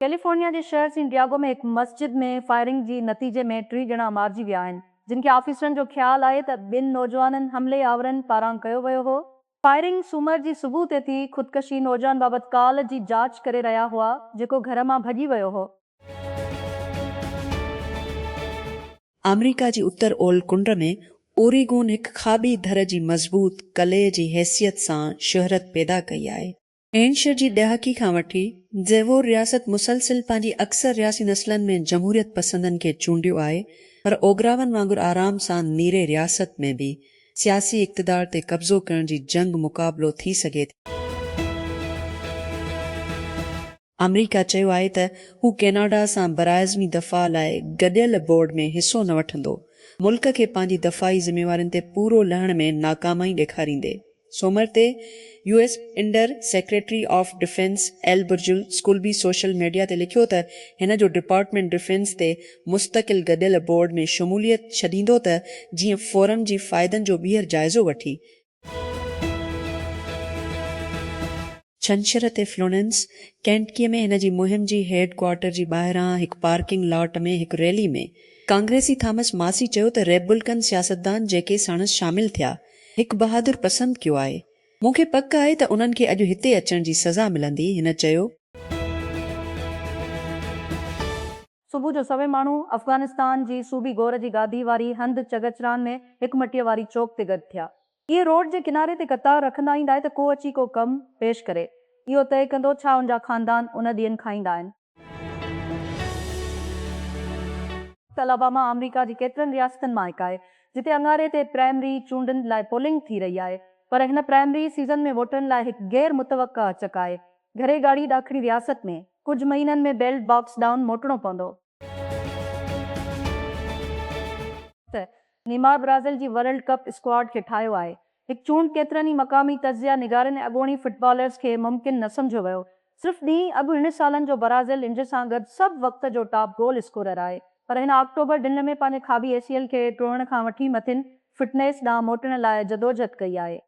California جي شهر San Diego ۾ هڪ مسجد ۾ فائرنگ جي نتيجي ۾ ٽي ڄڻا مارجي ويا آهن جن کي آفيسرن جو خيال آهي ته ٻن نوجوانن حملي آورن پاران ڪيو ويو هو فائرنگ سومر جي صبح تي ٿي، خودڪشي نوجوان بابت ڪال جي جاچ ڪري رهيا هئا، جيڪو گهر مان ڀڄي ويو هو. آمريڪا جي اتر اولھ ڪنڊ ۾ اوريگون هڪ کاٻي ڌر جي مضبوط قلعي جي حيثيت سان شهرت پيدا ڪئي آهي. اينشر جي ڏهاڪي کان وٺي زيوور رياست مسلسل پنهنجي اڪثر رياسي نسلن ۾ جمهوريت پسندن کي چونڊيو آهي پر اوگراون وانگر آرام سان نيري رياست ۾ به سياسي اقتدار تي قبضو ڪرڻ جي جنگ مقابلو ٿي سگهي ٿي. آمريڪا چيو آهي ته هو ڪيناڊا سان براعظمي دفاع لاء گڏيل بورڊ ۾ حصو نه وٺندو، ملڪ کي پنهنجي دفاعي ذميوارين تي پورو لهڻ ۾ ناڪامائي ڏيکاريندي. سومر تي U S under secretary of defence Elbridge Colby social media تي لکيو ته هن جو ڊپارٽمينٽ ڊفينس تي مستقل گڏيل بورڊ ۾ شموليت ڇڏيندو ته جيئن فورم جي فائدن جو ٻيهر جائزو وٺي ڇنڇر تي فلورينس، ڪينٽڪيء ۾ هن جي مهم جي هيڊ ڪوارٽر جي ٻاهران هڪ پارڪنگ لاٽ ۾ هڪ ريلي ۾ ڪانگريسي ٿامس ماسي چيو ته ريببلڪن سياستدان جيڪي ساڻس شامل ٿيا، هڪ بهادر پسند ڪيو آهي. مون کي پڪ آهي ته انهن کي اڄ هتي اچڻ جي سزا ملندي، هن چيو. صبح جو سوين ماڻهو افغانستان جي صوبي غور جي گادي واري هنڌ چغچران ۾ هڪ مٽيء واري چوڪ تي گڏ ٿيا. اهي روڊ جي ڪناري تي قطار رکندا ايندا آهي ته ڪو اچي ڪو ڪم پيش ڪري. اهو طئي ڪندو ڇا ان جا خاندان ان ڏينهن کان ايندا آهن. الاباما آمريڪا جي ڪيترن رياستن مان هڪ آهي جتي اڱاري تي پرائمري چونڊن لاء پولنگ ٿي رهي آهي پر هن پرائمري سيزن ۾ ووٽرن لاء هڪ غير متوقع اچڪ آهي. گهري ڳاڙهي ڏاکڻي رياست ۾ ڪجهه مهينن ۾ بيلٽ باڪس ڏانهن موٽڻو پوندو. ته نيمار برازيل جي ورلڊ ڪپ اسڪواڊ کي ٺاهيو آهي. هڪ چونڊ ڪيترن ئي مقامي تجزيا نگارن ۽ اڳوڻي فٽبالرز کي ممڪن نه سمجهيو ويو. صرف ڏينهن اڳ هن سالن جو برازيل انج سان گڏ سڀ وقت جو ٽاپ گول اسڪورر آهي پر هن آڪٽوبر ڊنهن ۾ پنهنجي کاٻي اي سي ايل کي ٽوڙڻ کان وٺي مٿين فٽنيس ڏانهن موٽڻ لاء جدوجھد ڪئي آهي.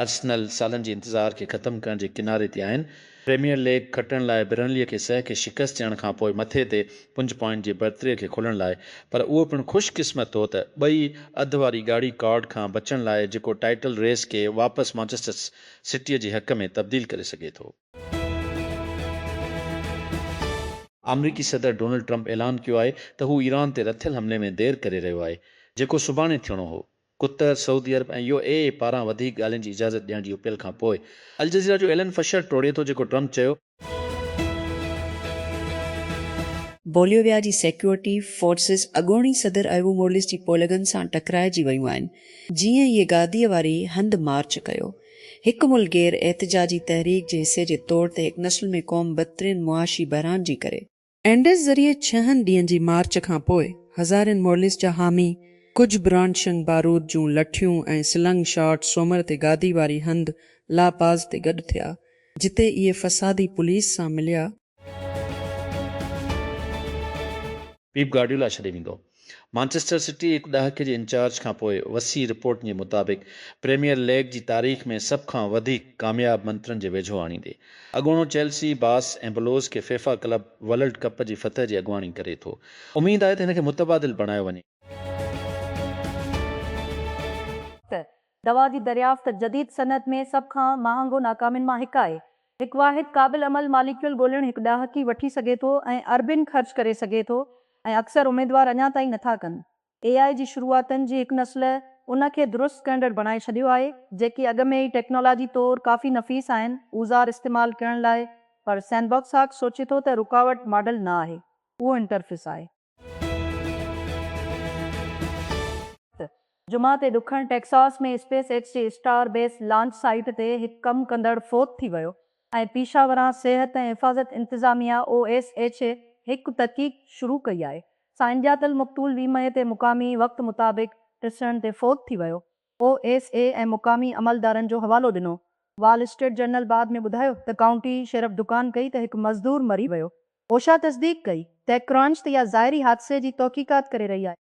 ارسنل سالن جي انتظار کي ختم ڪرڻ جي ڪناري تي آهن، پريميئر ليگ کٽڻ لاء برنلي کي سه کي شڪست ڏيڻ کانپوء مٿي تي پنج پوائنٽ جي برتري کي کولڻ لاء پر اهو پڻ خوش قسمت هو ته ٻئي اڌ واري ڳاڙهي ڪارڊ کان بچڻ لاء جيڪو ٽائيٽل ريس کي واپس مانچسٽر سٽيء جي حق ۾ تبديل ڪري سگهي ٿو. آمريڪي صدر ڊونلڊ ٽرمپ اعلان ڪيو آهي ته هو ايران تي رٿيل حملي ۾ دير ڪري رهيو آهي، جيڪو سڀاڻي ٿيڻو هو. Qatar, Saudi Arab ۽ U A E پاران وڌيڪ ڳالهين جي اجازت ڏيڻ جي اپيل کان پوء الجزيره جو ايلن فشر ٽوڙي ٿو جيڪو ٽرمپ چيو. بوليويا جي سيڪيورٽي فورسز اڳوڻي صدر ايوو مورليس جي پولگن سان ٽڪرائجي ويون آهن جيئن ئي گاديء واري هنڌ مارچ ڪيو. هڪ ملڪ گير احتجاجي تحريڪ جي حصي جي طور تي هڪ نسل ۾ قوم بدترين معاشي بحران جي ڪري. اينڊز ذريعي ڇهن ڏينهن جي مارچ کان پوء هزارين مورليس جا حامي ڪجهه برانشنگ بارود جون لٺيون ۽ سلنگ شاٽ سومر تي گادي واري هنڌ لا پاز تي گڏ ٿيا جتي اهي فسادي پوليس سان مليا پيپ گارڊيولا ڇڏي ويندو؟ مانچسٽر سٽي هڪ ڏهاڪي جي انچارج کانپوء وسيع رپورٽن جي مطابق پريميئر ليگ جي تاريخ ۾ سڀ کان وڌيڪ ڪامياب منترن جي ويجهو آڻيندي اڳوڻو چيلسي باس ۽ بلوز کي فيفا ڪلب ولرلڊ ڪپ جي فتح جي اڳواڻي ڪري ٿو اميد آهي ته هن کي متبادل بڻايو وڃي. دوا جي دريافت جديد صنعت ۾ سڀ کان مهانگو ناڪامين مان هڪ آهي. هڪ واحد قابل عمل ماليڪيول ڳولڻ هڪ ڏاهڪي وٺي سگهي ٿو ۽ اربين خرچ ڪري سگهي ٿو ۽ اڪثر اميدوار اڃا تائين نٿا ڪن. اي آء جي شروعاتن جي هڪ نسل ان کي درست ڪرندڙ بڻائي ڇڏيو آهي، جيڪي اڳ ۾ ئي ٽيڪنالاجي طور ڪافي نفيس آهن اوزار استعمال ڪرڻ لاء پر سينبوڪساڪ سوچي ٿو ته رڪاوٽ ماڊل نه آهي، اهو انٽرفيس آهي. جمعي تي ڏکڻ ٽيڪساس ۾ اسپيس ايڪس جي اسٽار بيس لانچ سائيٽ تي هڪ ڪم ڪندڙ فوت ٿي ويو ۽ پيشه ورانه صحت ۽ حفاظت انتظاميا او ايس ايڇ اي هڪ تحقيق شروع ڪئي آهي سائنس ڄاتل مقتول ويهه مئي تي مقامي وقت مطابق ٽسڙن تي فوت ٿي ويو او ايس اي ۽ مقامي عملدارن جو حوالو ڏنو. وال اسٽريٽ جرنل بعد ۾ ٻڌايو ته ڪائونٽي شيرف دڪان ڪئي ته هڪ مزدور مري ويو. اوشا تصديق ڪئي ته ڪرانچ ته يا ظاهري حادثي جي توقيقات ڪري رهي آهي.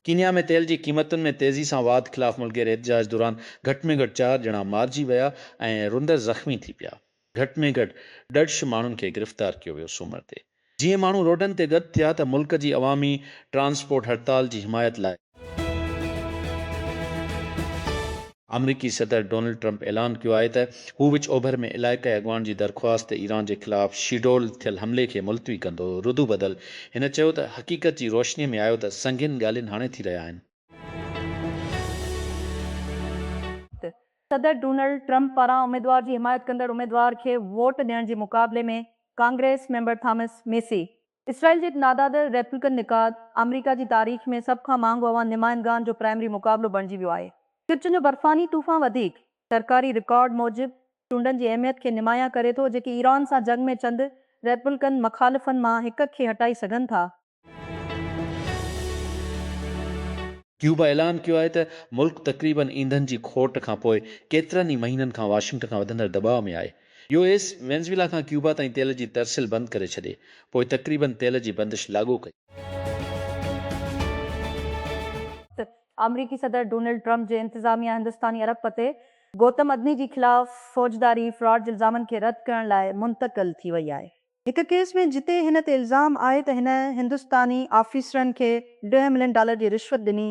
ڪينيا ۾ تيل جي قيمتن ۾ تيزي سان واڌ خلاف ملڪي احتجاج دوران گهٽ ۾ گهٽ چار ڄڻا مارجي ويا ۽ رندر زخمي ٿي پيا. گهٽ ۾ گهٽ ڏڙش ماڻهن کي گرفتار ڪيو ويو سومر تي جيئن ماڻهو روڊن تي گڏ ٿيا ته ملڪ جي عوامي ٽرانسپورٽ هڙتال جي حمايت لاء. آمريڪي صدر ڊونلڊ ٽرمپ اعلان ڪيو آهي ته هو وچ اوڀر ۾ علائقائي اڳواڻ جي درخواست تي ايران جي خلاف شيڊول ٿيل حملي کي ملتوي ڪندو ردوبدل هن چيو ته حقيقت جي روشني ۾ آيو ته سنگين ڳالهين هاڻي ٿي رهيا آهن. صدر ڊونلڊ ٽرمپ پاران اميدوار جي حمايت ڪندڙ اميدوار کي ووٽ ڏيڻ جي مقابلي ۾ ڪانگريس ميمبر ٿامس ميسي، اسرائيل جي نادادر ريپبلڪن نقاد، آمريڪا جي تاريخ ۾ سڀ کان مهانگو عوام نمائندگان جو پرائمري مقابلو بڻجي ويو آهي. چرچن جو برفاني طوفان وڌيڪ سرڪاري رڪارڊ موجب چونڊن جي اهميت کي نمايان ڪري ٿو، جيڪي ايران سان جنگ ۾ چند ريپبلڪن مخالفن مان هڪ کي هٽائي سگهن ٿا. ڪيوبا اعلان ڪيو آهي ته ملڪ تقريباً ايندھن جي کوٽ کانپوء ڪيترن ئي مهينن کان واشنگٽن کان وڌندڙ دٻاء ۾ آهي. يو ايس وينزويلا کان ڪيوبا تائين تيل جي ترسيل بند ڪري ڇڏي پوء تقريباً تيل جي بندش لاڳو ڪئي. آمريڪي صدر ڊونلڊ ٽرمپ جي انتظاميا هندستاني ارب پتي گوتم ادني جي خلاف فوجداري فراڊ جي الزامن کي رد ڪرڻ لاء منتقل ٿي وئي آهي. هڪ ڪيس ۾ جتي هن تي الزام آهي ته هن هندستاني آفيسرن کي ڏهه ملين ڊالر جي رشوت ڏني،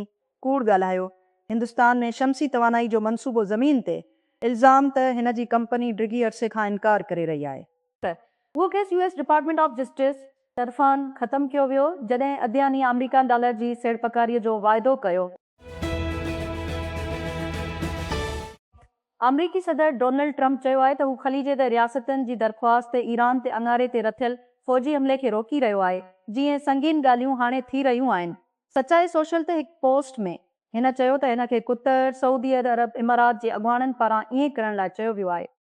ڪوڙ ڳالهايو، هندستان ۾ شمسي توانائي جو منصوبو زمين تي، الزام ته هن جي ڪمپني ڊگهي عرصي کان انڪار ڪري رهي آهي. ته اهو case U S Department of Justice طرفان ختم ڪيو ويو جڏهن ادياني آمريڪا ڊالر جي سيڙپڪاري جو واعدو ڪيو. آمريڪي صدر ڊونلڊ ٽرمپ چيو آهي ته هو خليج تي رياستن جي درخواست تي ايران تي اڱاري تي رٿيل فوجي حملي کي روڪي رهيو آهي جي ۽ سنگين ڳالهيون هاڻي ٿي رهيون آهن. سچائي سوشل تي هڪ پوسٽ ۾ هن چيو ته هن کي قطر، سعودي عرب، امارات جي اڳواڻن پاران ائين ڪرڻ لاء چيو ويو آهي.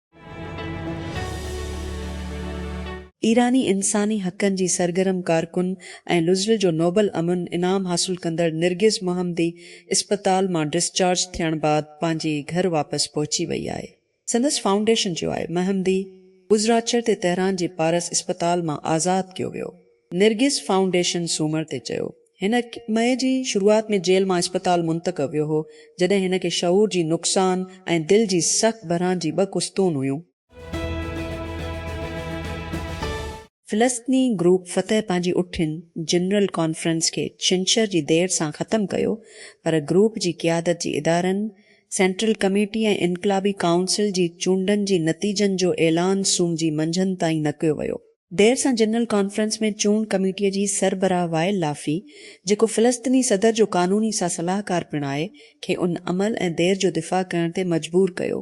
ايراني انساني حقن جي سرگرم ڪارڪن ۽ لزل جو نوبل امن انعام حاصل ڪندڙ نرگس محمدي اسپتال مان ڊسچارج ٿيڻ بعد پنهنجي گهر واپس پهچي وئي آهي. سندس فائونڊيشن چيو آهي محمدي ٻڌراڇر تي تهران جي پارس اسپتال مان آزاد ڪيو ويو. نرگس فائونڊيشن سومر تي چيو هن مئي جي شروعات ۾ جيل مان اسپتال منتقل ويو هو، جڏهن هن کي شعور جي نقصان ۽ دل جي سخت بحران جي ٻه قسطون هيون. فلسطني گروپ فتح پنهنجي اٺين جنرل ڪانفرنس کي ڇنڇر جي دير سان ختم ڪيو، پر گروپ جي قيادت جي ادارن، سينٽرل ڪميٽي ۽ انقلابي ڪائونسل جي چونڊن جي نتيجن جو اعلان سوم جي منجهند تائين نه ڪيو ويو. دير سان جنرل ڪانفرنس ۾ چونڊ ڪميٽيء جي سربراهه وائل لافي، جيڪو فلسطيني صدر جو قانوني سان صلاحڪار پڻ آهي، کي ان عمل ۽ دير جو دفاع ڪرڻ تي مجبور ڪيو.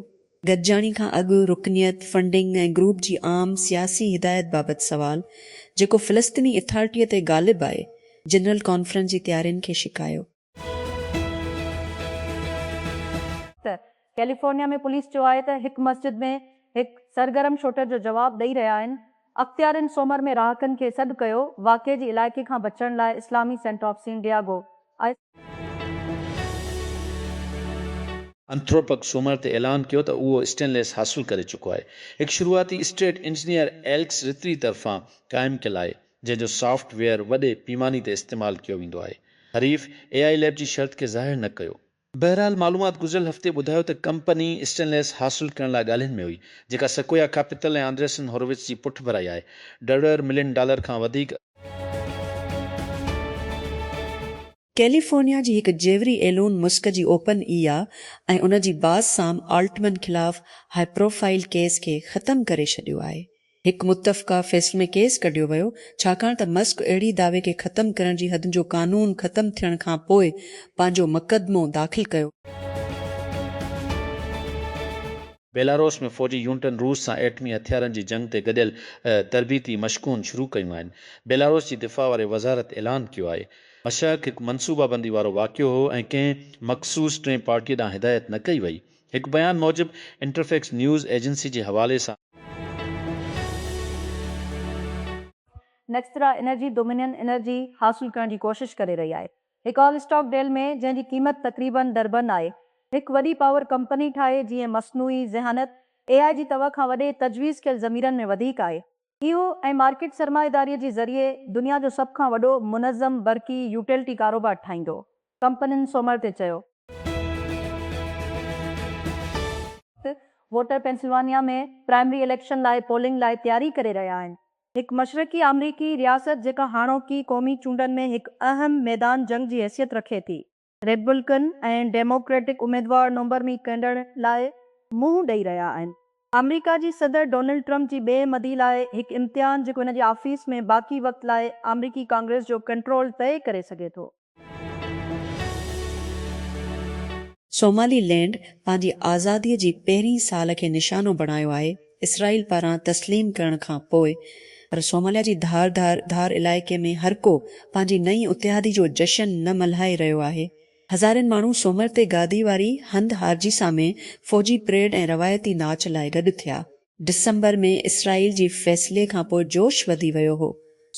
گڏجاڻي کان اڳ رڪنيت، فنڊنگ ۽ گروپ جي عام سياسي هدايت بابت سوال، جيڪو فلسطيني اٿارٽيء تي غالب آهي، جنرل ڪانفرنس جي تيارين کي شڪايو. ته ڪيليفورنيا ۾ پوليس چيو آهي ته هڪ مسجد ۾ هڪ سرگرم شوٽر جو جواب ڏئي رهيا آهن، اختيارين سومر ۾ رهاڪن کي سڏ ڪيو واقعي جي علائقي کان بچڻ لاء اسلامي سينٽ آف سين ڊياگو آء. انٿروپڪ سومر تي اعلان ڪيو ته اهو اسٽينليس حاصل ڪري چڪو آهي، هڪ شروعاتي اسٽيٽ انجنيئر ايلڪس رتري طرفان قائم ڪيل آهي. جنهن جو سافٽ ويئر وڏي پيماني تي استعمال ڪيو ويندو آهي. حريف اي آء ليب جي شرط کي ظاهر نه ڪيو. بهرحال معلومات گذريل هفتي ٻڌايو ته ڪمپني اسٽينليس حاصل ڪرڻ لاء ڳالهين ۾ هئي، جيڪا سڪويا ڪيپيٽل ۽ آندريسن هورووٽس جي پٺڀرائي آهي. ڊريئر ملين ڊالر کان وڌيڪ. ڪيليفورنيا جي هڪ جيوري ايلون مسڪ جي اوپن اي آء ۽ ان جي باز سام آلٽمن خلاف هاء پروفائيل ڪيس کي ختم ڪري ڇڏيو آهي. هڪ متفقه فيصلي ۾ ڪيس ڪڍيو ويو ڇاڪاڻ ته مسڪ اهڙي دعوي کي ختم ڪرڻ جي حدن جو قانون ختم ٿيڻ کان پوء پنهنجو مقدمو داخل ڪيو. بيلاروس ۾ فوجي يونٽن روس سان ايٽمي هٿيارن جي جنگ تي گڏيل تربيتي مشقون شروع ڪيون آهن. بيلاروس جي دفاع واري وزارت اعلان ڪيو آهي. مشق هڪ منصوبابندي وارو واقعو هو ۽ ڪنهن مخصوص ٽين پارٽيء ڏانهن هدايت نه ڪئي وئي. هڪ بيان موجب انٽرفيڪس نيوز ايجنسي جي حوالي سان. نيڪسٽرا انرجي ڊومينين انرجي حاصل ڪرڻ جي ڪوشش ڪري رهي آهي. هڪ آل اسٽاڪ ڊيل ۾ جنهن جي قيمت تقريبن دربن آهي، هڪ وڏي پاور ڪمپني ٺاهي جيئن مصنوعي ذهانت، اي آء، جي توهه کان وڏي تجويز ڪيل ضميرن ۾ وڌيڪ آهي. اهو ۽ مارڪيٽ سرمائيداري جي ذريعي دنيا جو سڀ کان وڏو منظم برقي يوٽيلٽي ڪاروبار ٺاهيندو، ڪمپنين سومر تي چيو. ووٽر پينسلوانيا ۾ پرائمري اليڪشن لاء پولنگ لاء تياري ڪري رهيا آهن. هڪ مشرقي آمريڪي رياست جيڪا هاڻوڪي قومي چونڊن ۾ هڪ اهم ميدان جنگ جي حيثيت رکي ٿي. ريپبلڪن ۽ ڊيموڪريٽڪ اميدوار نومبر ۾ ڪنڊڻ لاء منهن ڏئي رهيا آهن. آمريڪا جي صدر ڊونلڊ ٽرمپ جي ٻئي مدي لاء هڪ امتحان جيڪو هن جي آفيس ۾ باقي وقت لاء آمريڪي ڪانگريس جو ڪنٽرول طئي ڪري سگهي ٿو. سومالي لينڊ پنهنجي آزادي جي پهرين سال کي نشانو بڻايو آهي. اسرائيل پاران تسليم ڪرڻ کان پوء، پر صوماليا جي ڌار ڌار ڌار علائقي ۾ هرڪو پنهنجي نئين اتحادي جو جشن نه ملهائي رهيو آهي. هزارين ماڻهو سومر تي گادي واري هنڌ هارجيسا ۾ فوجي پريڊ ۽ روايتي ناچ لاء گڏ ٿيا. ڊسمبر ۾ اسرائيل جي فيصلي کان پوء جوش وڌي ويو هو.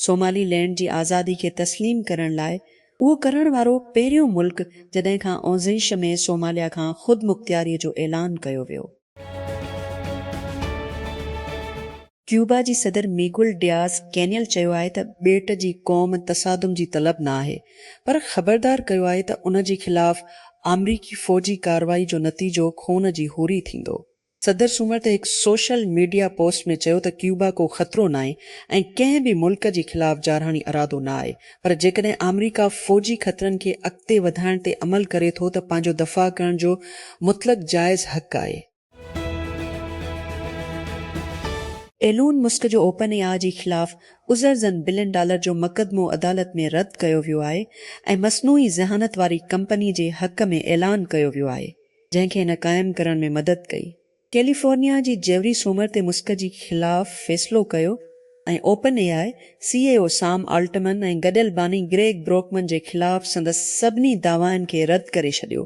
صومالي لينڊ جي آزادي کي تسليم ڪرڻ لاء اهو ڪرڻ وارو پهريون ملڪ جڏهن کان اونزيش ۾ صوماليا کان خودمختياري جو اعلان ڪيو ويو. ڪيوبا جي صدر ميگول ڊياز ڪينيل چيو آهي ته ٻيٽ جي قوم تصادم جي طلب نه آهي پر خبردار ڪيو آهي ته ان جي خلاف آمريڪي فوجي ڪارروائي جو نتيجو خون جي هوري ٿيندو. صدر سومر تي هڪ سوشل ميڊيا پوسٽ ۾ چيو ته ڪيوبا ڪو خطرو ناهي ۽ ڪنهن به ملڪ جي خلاف جارحاڻي ارادو نه آهي پر جيڪڏهن آمريڪا فوجي خطرن کي اڳتي وڌائڻ تي عمل ڪري ٿو ته پنهنجو دفاع ڪرڻ جو مطلق جائز حق آهي. ايلون مسڪ جو اوپن اي آء جي خلاف ازرزن بلين ڊالر جو مقدمو عدالت ۾ رد ڪيو ويو آهي ۽ مصنوعي ذهانت واري ڪمپني جي حق ۾ اعلان ڪيو ويو آهي جنهن کي هن قائم ڪرڻ ۾ مدد ڪئي ڪيليفورنيا جي جيوري سومر تي مسڪ جي خلاف فيصلو ڪيو ۽ open A I C E O Sam Altman ۽ گڏيل باني گريگ بروڪمن جي خلاف سندس سڀني دعوائن کي رد ڪري ڇڏيو.